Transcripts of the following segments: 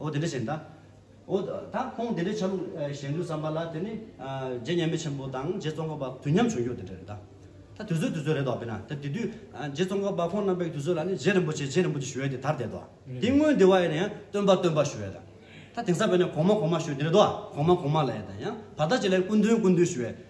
ཨོ་དེ་འདྲ་བྱེད་འདའ། ཨོ། ད་ཁོང་དེ་འདྲའི་ཆ་ལུགས་བཞེངས་འདུག་བསམ་པ་ལ་དེ་ནི། རྗེ་མཉམ་མེད་ཆེན་པོ་དང་རྗེ་ཙོང་ཁ་པ་དུས་མཉམ་བྱུང་རྒྱུ་དེ་འདྲ་རེད་དཱ། ད་དུས་ཚོད་དུས་ཚོད་རེད་དཱ་བས་ན་ད་དེ་དུས་རྗེ་ཙོང་ཁ་པ་ཁོང་རྣམ་པའི་དུས་ཚོད་ལ་ནི་རྗེ་རིན་པོ་ཆེ་རྗེ་རིན་པོ་ཆེ་ཞུ་བས་དེ་དར་དེ་དཱ། དེའི་སྔོན་དེ་བས་ན་ཡང་སྟོན་པ་སྟོན་པ་ཞུ་བས་དང། ད་དེང་སང་བས་ན་གོང་མ་གོང་མ་ཞུ་དེ་རེད་དཱ། གོང་མ་གོང་མ་ལ་ཡང་དང་ཡང་བར་དག་ཅིག་ལ་ཡང་སྐུ་མདུན་སྐུ་མདུན་ཞུ་བས།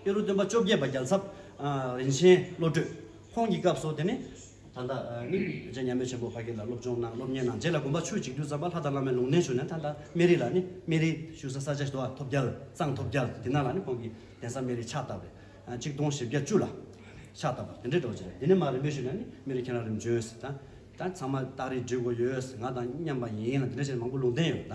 དཔེ་རུ་སྟོན་པ་བཅོ་བརྒྱད་པ་རྒྱལ་ཚབ་རིན་ཆེན་བློ་གྲོས་ཁོང་གི་སྐབས་སུ་དེ་ནི། ད་ལྟ་ནི་རྗེ་མཉམ་མེད་ཆེན་པོ་ཕ་གི་ལ་སློབ་སྦྱོང་གནང་སློབ་གཉེར་གནང་རྗེས་ལ་དགོན་པ་ཆུ་གཅིག་སྡུད་ཙམ་པ་ལྷ་དང་བླ་མའི་ལུང་བསྟན་ཞུ་ནས་ད་ལྟ་སྨན་རི་ལ་ནི་སྨན་རི་བཞུགས་ས་ས་ཆ་ཞི་བ་ཐོབ་རྒྱལ་གཙང་ཐོབ་རྒྱལ་འདི་ན་ལ་ནི་ཁོང་གི་གདན་ས་སྨན་རི་ཕྱག་བཏབ་རེད་གཅིག་སྟོང་བཞི་བརྒྱ་བཅུ་ལ་ཕྱག་བཏབ་པ་དེ་འདྲའི་གྲོགས་ཅིག་རེད་འདི་ནས་མ་རིན་པོ་ཞུས་ན་ནི་སྨན་རི་ཁྱེད་རང་རིམ་བྱོན་ཟེར་ད་ད་ཚང་མ་སྟག་རི་འབྲི་དགོས་ཡོད་ཟེར་ང་དང་མཉམ་པ་ཡིན་ལ་འདི་འདྲ་བྱས་ནས་མང་པོ་ལུང་བསྟན་ཡོད་ད།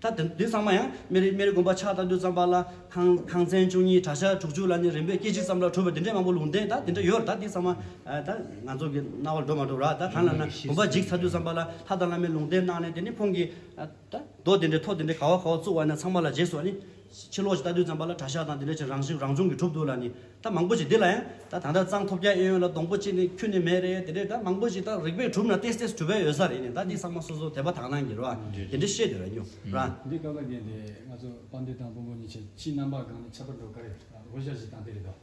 ད་དུས་ཚང་མ་ཡང་མེ་རི་དགོན་པ་ཕྱག་བཏབ་དུས་ཙམ་པ་ལ་ཐང་ཐང་ཚན་བཅུ་གཉིས་གྲྭ་ཤག་དྲུག་ཅུ་ལ་ནི་རིམ་པས་སྐད་ཅིག་ཙམ་ལ་གྲུབ་པ་འདི་འདྲའི་མང་པོ་ལུང་བསྟན་ད་འདི་འདྲ་ཡོད་ད་འདི་ཚང་མ་ད་ང་ཚོ་གི་རྣ་བར་འགྲོ་མ་འགྲོ་ར་ད་གང་ལ་ན་དགོན་པ་འཇིག་ཚར་དུས་ཙམ་པ་ལ་ལྷ་དང་བླ་མའི་ལུང་བསྟན་གནང་ནས་དེ་ནི་ཁོང་གིས་ད་རྡོ་འདི་འདྲའི་ཐོག་འདི་འདྲའི་ག་བ་ག་བ་བཙུགས་བ་ན་ཚང་མ་ལ་རྗེས་སུ་ནི། ཕྱི་ལོགས་ཀྱི་རྟ་བདུན་ཙམ་པ་ལ་གྲྭ་ཤག་དང་དེ་འདྲ་ཅིག་རང་བཞིན་རང་བྱུང་གི་གྲུབ་འདུག་ལ་ནི་ད་མང་པོ་ཞིག་འདི་ལ་ཡང་ད་ད་ལྟ་གཙང་ཐོབ་རྒྱ་ཨེ་ཡོད་ལ་སྡོང་པོ་གཅིག་ནི་ཁྱུ་ནི་མེད་རེད་དེ་འདྲས་ད་མང་པོ་ཞིག་ད་རིག་པས་གྲུབ་ན་ཏེས་ཏེས་གྲུབ་པའི་ཡོད་ས་རེད་ནི་ད་འདི་ཚང་མ་སོ་སོ་དད་པ་དག་སྣང་གི་རེད་བ་དེ་འདྲས་བཤད་དེ་ར་ཉོ་ར། འདི་ཀ་ཀ་རྒྱན་དེ་ང་ཚོ་དཔའ་འདི་དང་དཔོན་པོ་གཉིས་ཆེད་ཕྱིའི་རྣམ་པ་སྒང་ནས་ཁྱབ་པར་འགྲོ་ག་རེ་ལ་སྒོ་ཤར་ཞིག་བཏང་དེ་རེད་དོ།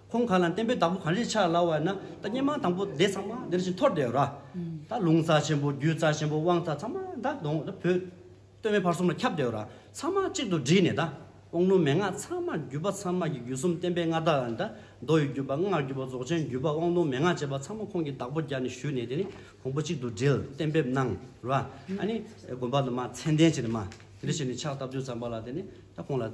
ཁོང་གང་ལ་བསྟན་པའི་བདག་པོ་གངས་རིའི་ཆར་ལ་བ་ན་ད་སྙན་མང་དང་པོ་དེ་ཚང་མ་འདིར་བཞིན་འཐོར་བསྡད་ར། ད་ལུང་རྩ་ཆེན་པོ་རྒྱུད་རྩ་ཆེན་པོ་དབང་རྩ་ཚང་མ་ད་གདོང་ད་བོད། སྟོད་སྨད་བར་གསུམ་ལ་ཁྱབ་བསྡད་ར་ཚང་མ་གཅིག་ཏུ་བསྒྲིལ་ནས་ད་དབང་ལུང་མན་ངག་ཚང་མ་བརྒྱུད་པ་ཚང་མ་གྱི་བརྒྱུད་གསུམ་བསྟན་པའི་མངའ་བདག་ད་མདོ་ཡི་བརྒྱུད་པ་སྔགས་བརྒྱུད་པ་རྫོགས་ཆེན་བརྒྱུད་པ་དབང་ལུང་མན་ངག་ཅེས་པ་ཚང་མ་ཁོང་གི་བདག་པོ་རྒྱ་ནས་བཞུད་ནས་དེ་ནི་གོང་བུ་གཅིག་ཏུ་བསྒྲིལ་གཏན་འབེབས་གནང་ར། ཨ་ནི་དགོན་པ་དུ་མ་མཚན་ལྡན་བྱས་ནས་མ་དེ་འདྲ་བྱས་ནས་ཕྱག་བཏབ་དུས་ཙམ་པ་ལ་དེ་ནི་ད་ཁོང་ལ།